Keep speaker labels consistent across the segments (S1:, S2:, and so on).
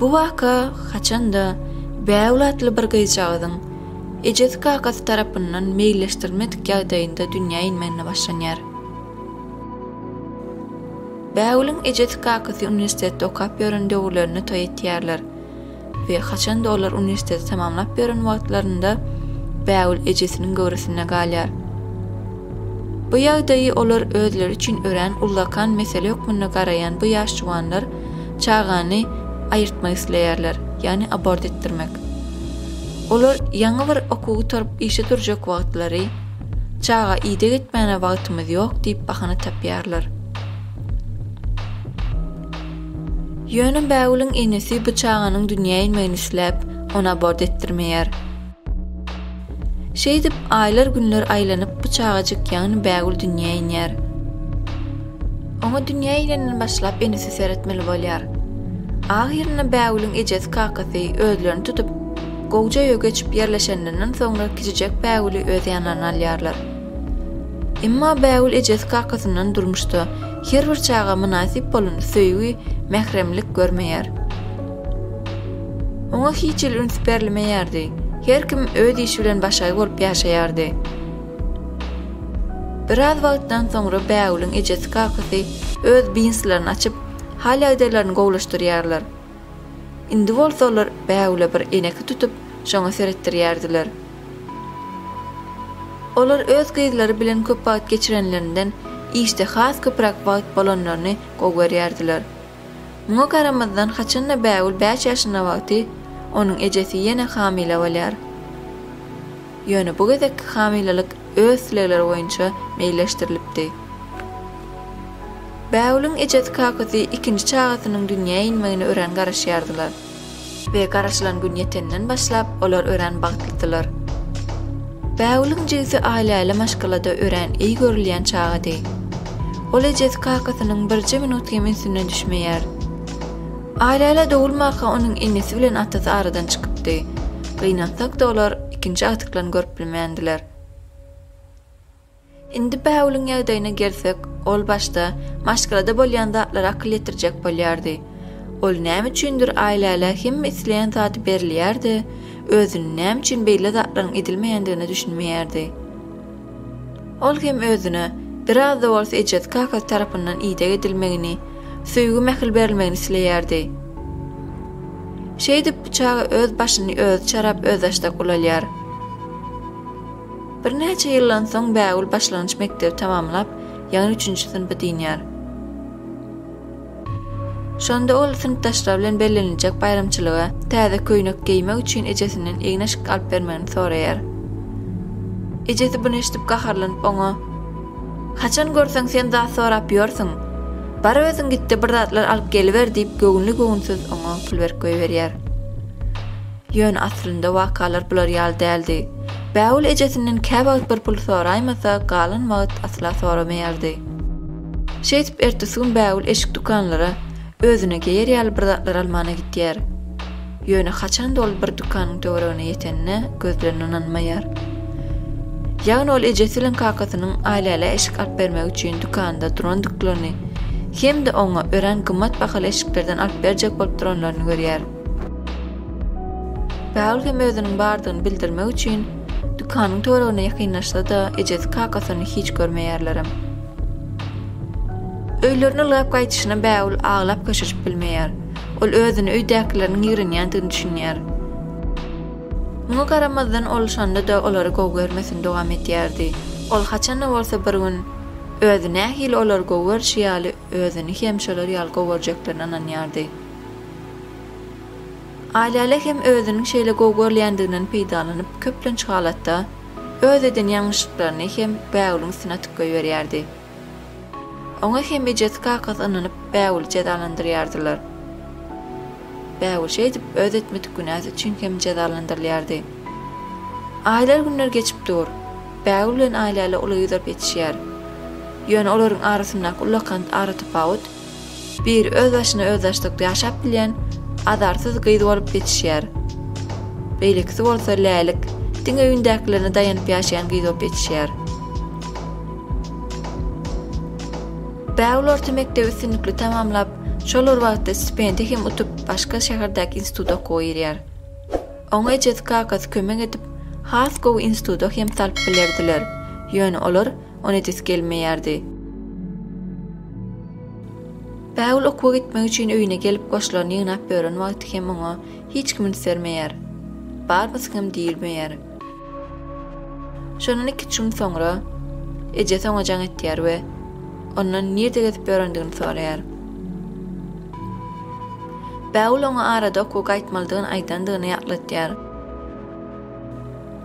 S1: Bu waka haçan-da Bägül atly bir gyzjagazyň ejesi-kakasy tarapyndan meýilleşdirilmedik ýagdaýynda dünýä inmeginde başlanýar. Bägüliň ejesi-kakasy uniwersitetde okap ýören döwürlerinde toý etýärler. we haçan-da olar uniwersiteti tamamlap ýören wagtlarynda Bägül ejesiniň göwresinde galýar. Bu ýagdaýy olar özleri üçin örän ullakan mesele hökmünde garaýan bu ýaş juwanlar çagany aýyrtmak isleýärler, ýagny abort etdirmek. Olar ýaňy bir okuw gutaryp işe durjak wagtlary, Çaga ideg etmäne wagtymyz ýok diýip bahana tapýarlar. Ýöne Bägüliň enesi bu çaganyň dünýä inmegini isläp, ony abort etdirmeýär. Şeýdip, aýlar-günler aýlanyp, bu çagajyk, ýagny Bägül dünýä inýär. Oňa dünýä inenden başlap enesi seretmeli bolýar. Ahyrynda Bägüliň ejesi-kakasy özlerini tutup, gowja öýe geçip ýerleşenlerinden soňra kiçijek Bägüli öz ýanlaryna alýarlar. Emma Bägül ejesi-kakasyndan durmuşda, Her bir çaga mynasyp bolan söýgi, mähremlik görmeýär. Oňa hiç hili üns berlmeýärdi. Her kim öz işi bilen başga bolup ýaşaýardy. Biraz wagtdan soňra Bägüliň ejesi-kakasy öz biznslaryny açyp, hal-ýagdaýlaryny gowulaşdyrýarlar. Indi bolsa olar bägüle bir eneki tutup, şoňa seretdirýärdiler. Olar öz gyzlary bilen köp wagt geçirenlerinden işde has köpräk wagt bolanlaryny gowy görýärdiler. Muňa garamazdan haçan-da bägül bäş ýaşynda wagty, onuň ejesi ýene hamyla bolýar. Ýöne bu gezekki hamylalyk öz islegleri boýunça meýilleşdirilipdi. Bägüliň ejesi-kakasy ikinji çagasynyň dünýä inmegine örän garaşýardylar. We garaşylan gün ýetenden başlap, olar örän bagtlydylar. Bägüliň jigisi Aýlaýla maşgalada örän eý görülýän çagady. Ol ejesi-kakasynyň birje minut hem ünsünden düşmeýär. Aýläle dogulmaka onuň enesi bilen atasy aradan çykypdy. Gynansak-da olar ikinji agtyklaryny görüp bilmändiler. Indi Bägüliň ýagdaýyna gelsek, ol başda maşgalada bolýan zatlara akyl ýetirjek bolýardy. Ol näme üçindir Aýläle hemme isleýän zady berilýär-de, özüni näme üçin beýle zatlaryň edilmeýändigine düşünmeýärdi. Ol hem özüne biraz-da bolsa ejesi-kakasy tarapyndan ideg edilmegini, söýgi-mähir berilmegini isleýärdi. Şeýdip, bu çaga öz başyny özi çarap, özbaşdak ulalýar. Birnäçe ýyldan soň Bägül başlangyç mekdebi tamamlap, ýaňy üçünji synpy dynýar. Şonda ol synpdaşlary bilen belleniljek baýramçylyga täze köýnek geýmek üçin ejesinden egin-eşik alyp bermegini soraýar. Ejesi buny eşidip gaharlanyp oňa, Haçan görseň sen zat sorap ýörsüň. Bar özüň gitde bir zatlar alyp geliber diýip göwünli-göwünsiz oňa pul berip goýberýär. Ýöne aslynda wakalar bular ýaly däldi. Bägül ejesinden käwagt bir pul soraýmasa galan wagt asla soramaýardy. Şeýdip, ertesi gün Bägül eşik dükanlara özüne geýer ýaly bir zatlar almana gidýär. Ýöne haçanda ol bir dükanyň töweregine ýetenine gözlerine ynanmaýar. Ýagny ol ejesi bilen kakasynyň Aýlälä eşik alyp bermek üçin dükanda durandyklygyny hem-de oňa örän gymmat bahaly eşiklerden alyp berjek bolup duranlaryny görýär. Bägül hem özüniň bardygyny bildirmek üçin dükanyň töweregine ýakynlaşsa-da, ejesi-kakasyny hiç görmeýärlerem. Öýlerine ylgap gaýdyşyna Bägül aglap köşeşip bilmeýär. Ol özüni öýdäkileriň ýigrenýändigini düşünýär. Muňa garamazdan ol şonda-da olary gowy görmesini dowam edýärdi. Ol haçan-da bolsa bir gün özi nähili olary gowy görşi ýaly özüni hem şolar ýaly gowy görjeklerine ynanýardy. Aýlala hem özüniň şeýle gowy görülýändiginden peýdalanyp köplenç halatda, Öz eden ýalňyşlyklaryny hem bägüliň üstüne atyp goýberýärdi. Oňa hem ejesi-kakasy ynanyp bägüli jezalandyrýardylar. Bägül şeýdip öz etmedik günäsi üçin hem jezalandyrylýardy. Aýlar günler geçip dur. Bägül bilen Aýläle uly gyzaryp ýetişýär. Ýöne olaryň arasyndaky ullakan aratapawut Bir öz başyna özbaşdak ýaşap bilýän azarsyz gyz bolup ýetişýär. Beýlekisi bolsa lälik, diňe öýündäkilerine daýanyp ýaşaýan gyz bolup ýetişýär. Bägül orta mekdebi üstünlikli tamamlap, şol bir wagtda stipendiýa hem utup, başga şäherdäki instituta okuwa girýär. Oňa ejesi-kakasy kömek edip, has gowy instituta hem salyp bilerdiler, ýöne olar ony edesi gelmeýärdi. Bägül okuwa gitmek üçin öýüne gelip goşlaryny ýygnap ýören wagty hem oňa hiç kim üns bermeýär. Barmysyň hem diýilmeýär. Şondan iki-üç gün soňra ejesi oňa jaň etýär we ondan nirde gezip ýörendigini soraýar. Bägül oňa arada okuwa gaýtmalydygyny aýdandygyny ýatlatýar.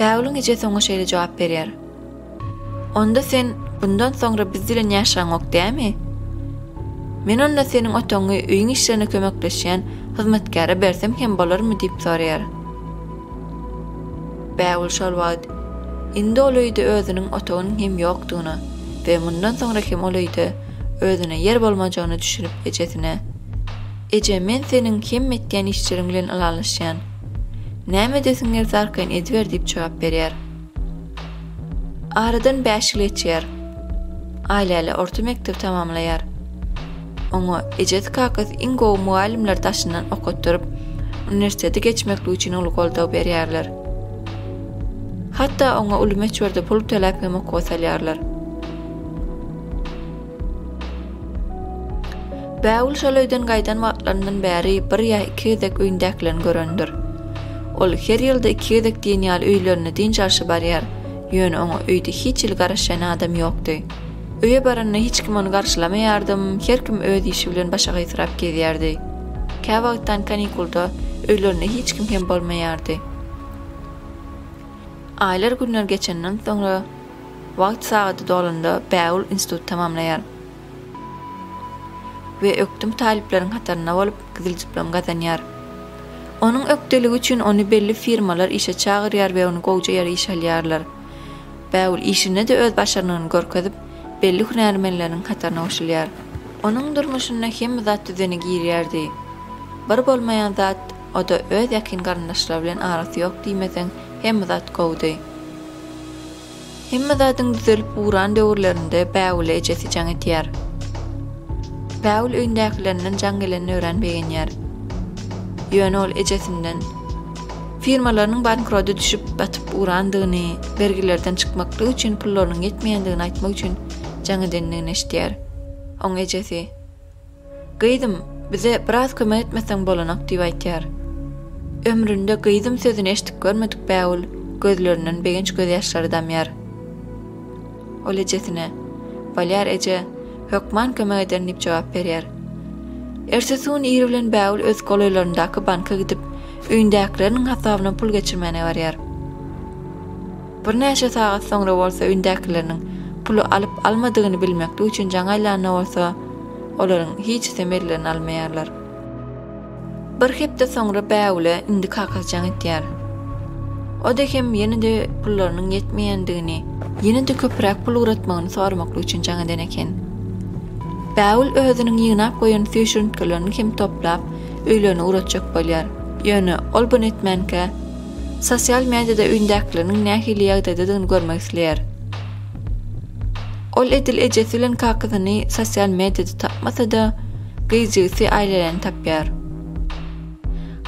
S1: Bägüliň ejesi oňa şeýle jogap berýär. Onda sen bundan soňra biz bilen ýaşaňok dämi? Men onda seniň otagyňy öýüň işlerine kömekleşýän hyzmatkäre bersem hem bolarmy diýip soraýar. Bägül şol wagt indi ol öýde özüniň otagynyň hem ýokdugyna we mundan soňra hem ol öýde özüne ýer bolmajagyna düşünip ejesine, Eje, men seniň hemme etýän işleriň bilen ylalaşýan. Näme edesiň gelse arkaýyn ediber diýip jogap berýär. Aradan bäş ýyl geçýär. Aýläle orta mekdebi tamamlaýar. Oňa ejesi-kakasy iň gowy mugallymlar daşyndan okatdyryp, uniwersitete geçmeklik üçin uly goldaw berýärler. Hatda oňa uly möçberde pul töläp hem okuwa salýarlar. Bägül şol öýden gaýdan wagtlaryndan bäri bir ýa iki gezek öýündäkilerini görendir. Ol her ýylda iki gezek diýen ýaly öýlerine dynç alşa barýar, ýöne oňa öýde hiç hili garaşýan adam ýokdy. Öýe baranda hiç kim ony garşylamaýardym, her kim öz işi bilen başa gysyrap gezýärdi. Käwagtdan kanikulda öýlerinde hiç kim hem bolmaýardy. Aýlar-günler geçenden soňra. Wagt sagady dolanda Bägül instituty tamamlaýar we ökdüm talyplaryň hatarynda bolup, gyzyl diplom gazanýar. Onuň ökdeligi üçin ony belli firmalar işe çagyrýar we ony gowja ýere işe alýarlar. Bägül işinde-de öz başarnygyny görkezip, belli hünärmenleriň hataryna goşulýar. Onuň durmuşyna hemme zat düzene girýärdi. Bir bolmaýan zat O-da öz ýakyn garyndaşlary bilen arasy ýok diýmeseň, hemme zat gowudy. Hemme zadyň düzelip ugran döwürlerinde Bägüle ejesi jaň etýär. Bägül öýündäkilerinden jaň gelenini örän begenýär. Ýöne ol ejesinden firmalarynyň bankrota düşüp, batyp ugrandygyny, bergilerden çykmaklyk üçin pullarynyň ýetmeýändigini aýtmak üçin jaň edendigini eşidýär. Oň ejesi. Gyzym, bize biraz kömek etmeseň bolanak, diýip aýtýar. Ömründe gyzym sözüni eşidip görmedik Bägül gözlerinden begenç gözýaşlary damýar. Ol ejesine, Bolýar eje, hökman kömek ederin diýip jogap berýär. Ertesi gün ir bilen Bägül öz golaýlaryndaky banka gidip, öýündäkileriniň hasabyna pul geçirmäne barýar. Birnäçe sagat soňra bolsa öýündäkileriniň puly alyp-almadygyny bilmeklik üçin jaň aýlanda bolsa, olaryň hiçisem ellerine almaýarlar. Bir hepde soňra Bägüle indi kakasy jaň etýär. O-da hem ýene-de pullarynyň ýetmeýändigini, ýene-de köpräk pul ugratmagyny soramaklyk üçin jaň eden eken. Bägül özüniň ýygnap goýan süýşürintgilerini hem toplap, öýlerine ugratjak bolýar. Ýöne ol buny etmänkä, Sosial mediada öýündäkileriniň nähili ýagdaýdadygyny görmek isleýär. Ol edil ejesi bilen kakasyny sosial mediada tapmasa-da, gyz jigisi Aýläläni tapýar.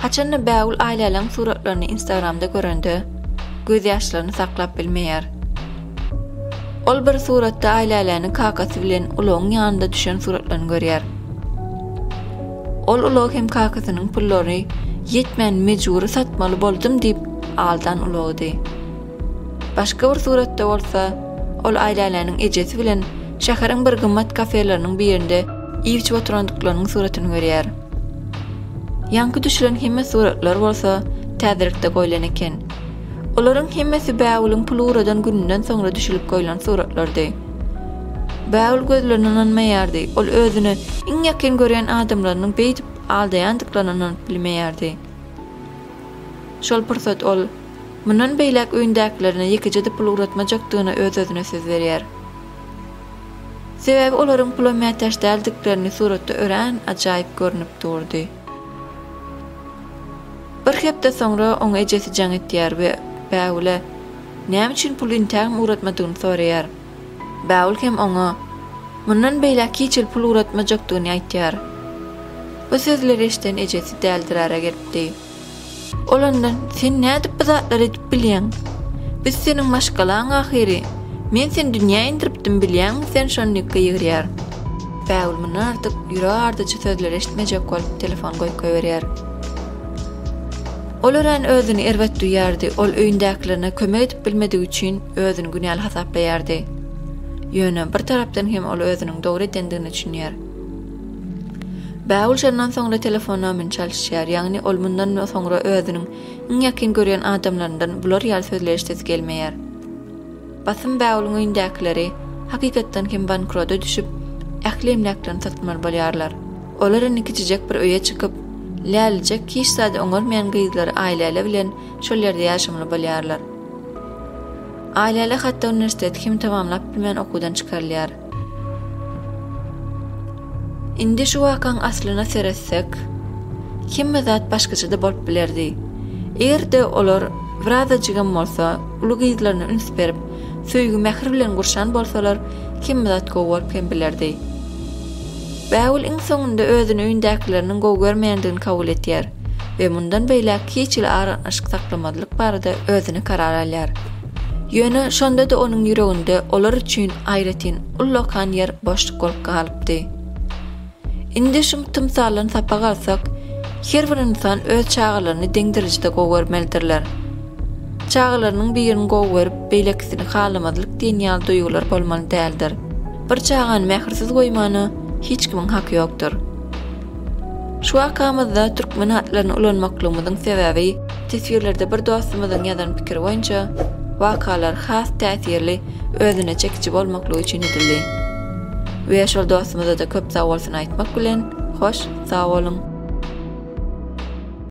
S1: Haçan-da Bägül Aýläläň suratlaryny Instagramda görende, gözýaşlaryny saklap bilmeýär. Ol bir suratda Aýläläni kakasy bilen ulagyň ýanynda düşen suratlaryny görýär. Ol ulag hem kakasynyň pullary ýetmän mejbury satmaly boldum diýip aldan ulagydy. Başga bir suratda bolsa, ol Aýläläniň ejesi bilen şäheriň bir gymmat kafeleriniň birinde iýip-içip oturandyklarynyň suratyny görýär. Ýaňky düşülen hemme suratlar bolsa täzelikde goýlan eken. Olaryň hemmesi bägüliň pul ugradan gününden soňra düşülip goýlan suratlardy. Bägül gözlerine ynanmaýardy. Ol özüne iň ýakyn görýän adamlarynyň beýdip aldaýandyklaryna ynanyp bilmeýärdi. Şol pursat ol Mundan beýläk öýündäkilerine ýekeje-de pul ugratmajakdygyna öz-özüne söz berýär. Sebäbi olaryň pula mätäç däldiklerini suratda örän ajaýyp görnüp durdy. Bir hepde soňra oňa ejesi jaň etýär we Bägüle Näme üçin puly intägem ugratmadygyny soraýar. Bägül hem oňa Mundan beýläk hiç il pul ugratmajakdygyny aýtýar. Bu sözleri eşiden ejesi däldirara gelipdi. Ol ondan Sen nädip bu zatlary edip bilýäň? Biz seniň maşgalaň ahyry. Men seni dünýä indiripdim bilýäňmi sen şondiýkka ýygyrýar. Bägül mundan artyk ýüregi ardyjy sözleri eşitmejek bolup telefony goýkaýberýär. Ol örän özüni erbet duýýardy, ol öýündäkilerine kömek edip bilmedigi üçin özüni günäli hasaplaýardy. Ýöne bir tarapdan hem ol özüniň dogry edendigine düşünýär. Bägül şondan soňra telefona mün çalyşýar, ýagny ol mundan soňra özüniň iň ýakyn görýän adamlaryndan bular ýaly sözleýişdesi gelmeýär. Basym Bägüliň öýündäkileri hakykatdan hem bankroda düşüp, ähli emläklerini satmaly bolýarlar. Olar indi kiçijek bir öýe çykyp, lälijek hiç zady oňarmaýan gyzlary Aýläle bilen şol ýerde ýaşamaly bolýarlar. Aýläle hatda uniwersiteti hem tamamlap bilmän okuwdan çykarylýar. Indi şu wakaň aslyna seretsek, hemme zat başgaça-da bolup bilerdi. Eger-de olar birazajygam bolsa uly gyzlaryna üns berip, söýgi-mähir bilen gurşan bolsalar, hemme zat gowy bolup hem bilerdi. Bägül iň soňunda özüni öýündäkileriniň gowy görmeýändigini kabul etýär we mundan beýläk hiç hili aragatnaşyk saklamazlyk barada özüne karar alýar. Ýöne şonda-da onuň ýüreginde olar üçin aýratyn ullakan ýer boşluk bolup galypdy. Indi şu tymsaldan sapak alsak, her bir ynsan öz çagalaryny deňderejede gowy görmelidirler. Çagalarynyň birini gowy görüp, beýlekisini halamazlyk diýen ýaly duýgular bolmaly däldir. Bir çagany mähirsiz goýmana hiç kimiň haky ýokdur. Şu wakamyzda türkmen hatlaryny ulanmaklygymyzyň sebäbi, teswirlerde bir dostumyzyň ýazan pikiri boýunça, wakalar has täsirli, özüne çekiji bolmaklygy üçin edildi. We şol dostumyza-da köp sagbolsun aýtmak bilen, hoş, sag boluň!